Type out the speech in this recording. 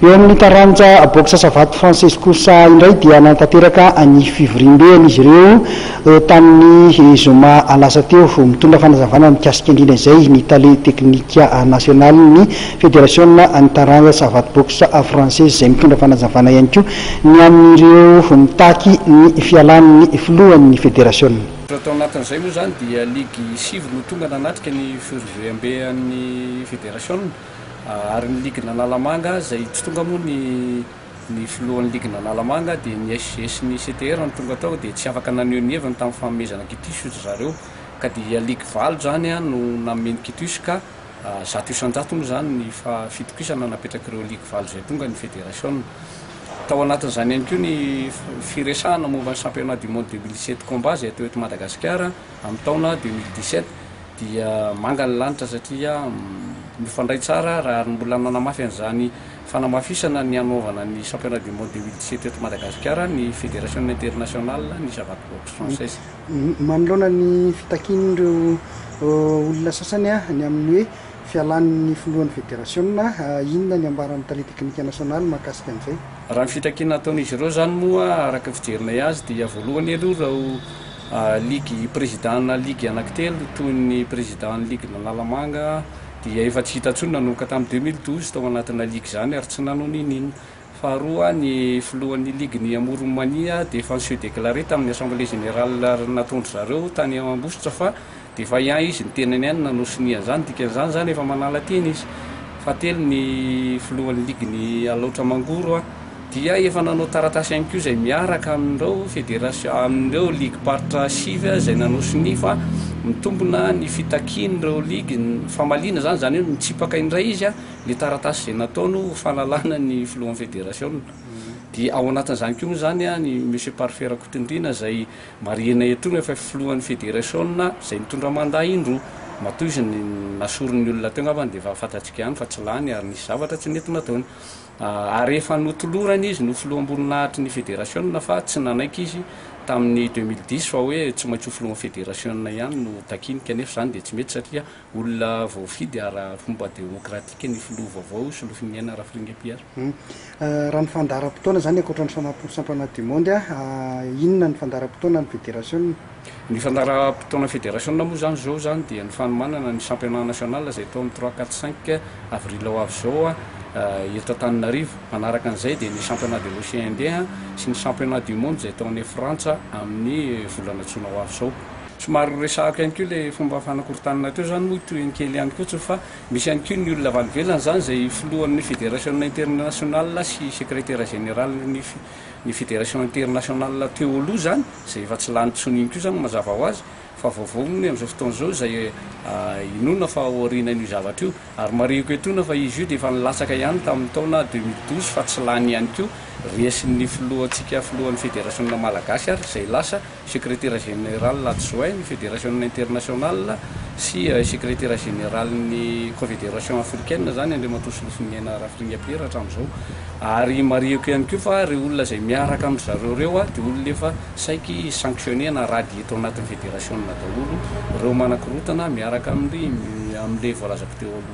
Eo amin'ny taranja Boxe Savate Française kosa indray dia nanatanteraka ny fivoriambeany izy ireo tamin'ny zoma lasa teo. Mitondra fanazavana mikasika indrindra izay ny tale teknika nasionalin'ny federasiona ny taranja Savate Boxe Française izay mitondra fanazavana ihany koa ny amin'ireo mitaky ny fialan'ny filohan'ny federasiona. Tao anatin'izay moa izany dia ligy sivy no tonga nanatrika ny fivoriambean'ny federasiona. Ary ny Ligue n'Analamanga izay tsy tonga moa ny ny filohan'ny Ligue n'Analamanga dia ny SG sy ny CTR no tonga tao dia tsy afaka naneho ny heviny tamin'ny fanomezana kitusy hoy dry zareo ka dia Ligue valo izany no nanome ny kitusy ka zato isan-jato moa izany ny faha fitokisana napetrak'ireo Ligue valo izay tonga ny Federasiona. Tao anatin'izany ihany koa ny firesahana momba ny Championnat du Monde deux mille sept Combat izay atao eto Madagasikara, Amin'ny taona deux mille dix-sept dia manga ny lanitra satria mifandray tsara raha ny mbola nanamafy an'izany fanamafisana ny hanaovana ny Championnat du Monde deux mille dix-sept eto Madagasikara ny Federation Internationale ny Savate Boxe Française. Manoloana ny fitakian'ireo olona sasany ny amin'ny hoe fialan'ny filohan'ny federasiona, inona ny ambaran'ny Tale teknika nasionaly mahakasika an'izay? Raha ny fitakiana ataon'izy ireo izany moa araka ny fijerinay azy dia voalohany aloha ireo Ligy Prezidàna ligy anankitelo toy ny Prezidàn'ny ligin'Analamanga dia efa tsy hita intsony nanomboka tamin'ny deux mille douze tao anatina ligy izany ary tsy nanao n'inon'inona. Faharoa, ny filohan'ny ligin'i Amoron'i Mania dia efa ni-se-declarer tamin'ny Assemblée Générale nataon-dry zareo tany Ambositra fa Dia efa hiahy izy ny tenany ihany no nosonia an'izany. Dikan'izany izany efa manala teny izy. Fahatelo ny filohan'ny ligin'i Alaotra Mangoro dia efa nanao taratasy ihany koa izay miaraka amin'ireo federasiona, amin'ireo ligim-paritra sivy izay nanao sonia fa mitombina ny fitakian'ireo ligy ny famaliana izany. Izany hoe mitsipaka indray izy ilay taratasy izay nataony ho fanalana ny filohan'ny federasiona. Dia ao anatin'izany koa moa izany i Monsieur Parfait Rakotondriana izay. Marihina eto ny efa filohan'ny federasiona izay nitondra mandat indroa. Matoa izy nasorin'ny olona teo angambany dia efa fantatsika ihany fa tsy lany ary nisy zavatra tsy nety nataony. Ary efa notolorana izy ny ho filoham-boninahitry ny federasiona fa tsy nanaiky izy tamin'ny deux mille dix fa hoe tsy maintsy ho filohan'ny federasiona ihany no takiany kanefa izany dia tsy mety satria Olona voafidy ara-pomba demokratika ny filoha vaovao io, Solofiniaina Rafiringa Pierre. Raha ny fandaharam-potoana izany, ankoatra ny fanampin'ny Championnat du Monde, inona ny fandaharam-potoana an'ny Federasiona? Ny fandaharam-potoanan'ny Federasiona moa izany izao izany dia ny fanomanana ny Championnat National izay atao amin'ny trois, quatre, cinq avril ho avy izao eto Antananarivo. Manaraka an'izay dia ny Championnat de l'Océan Indien sy ny Championnat du Monde izay atao any Frantsa amin'ny volana jona ho avy izao. Somary resahako ihany koa ilay fomba fanakorontanana teo izany moa tohiny kely ihany koa tsy fa misy ihany koa ny olona valivelona izany izay filohan'ny federasiona internationale sy sekretera zeneralin'ny ny federasiona internationale teo aloha izany izay efa tsy lany intsony iny koa izany mazava ho azy fa vaovao ny amin'izao fotoana izao izay inoana fa aorianan'io zavatra io ary marihiko etoana fa izy io dia efa nilatsaka ihany tamin'ny taona deux mille douze fa tsy lany ihany koa resin'ny filohantsika filohan'ny federasiona malagasy ary izay lasa Sekretera Jeneraly Adjoint-n'ny Federasiona Internasionala sy Sekretera Jeneralin'ny Confederation Africaine izany Andriamatoa Solofoniaina Rafiringa Pierre hatramin'izao. Ary marihiko ihany koa fa ireo olona izay miaraka amin-dry zareo ireo dia olona efa saiky sanctionner na radier tao anatin'ny Federasiona daholo ireo manakorontana miaraka amin'ilay voalazako teo aloha.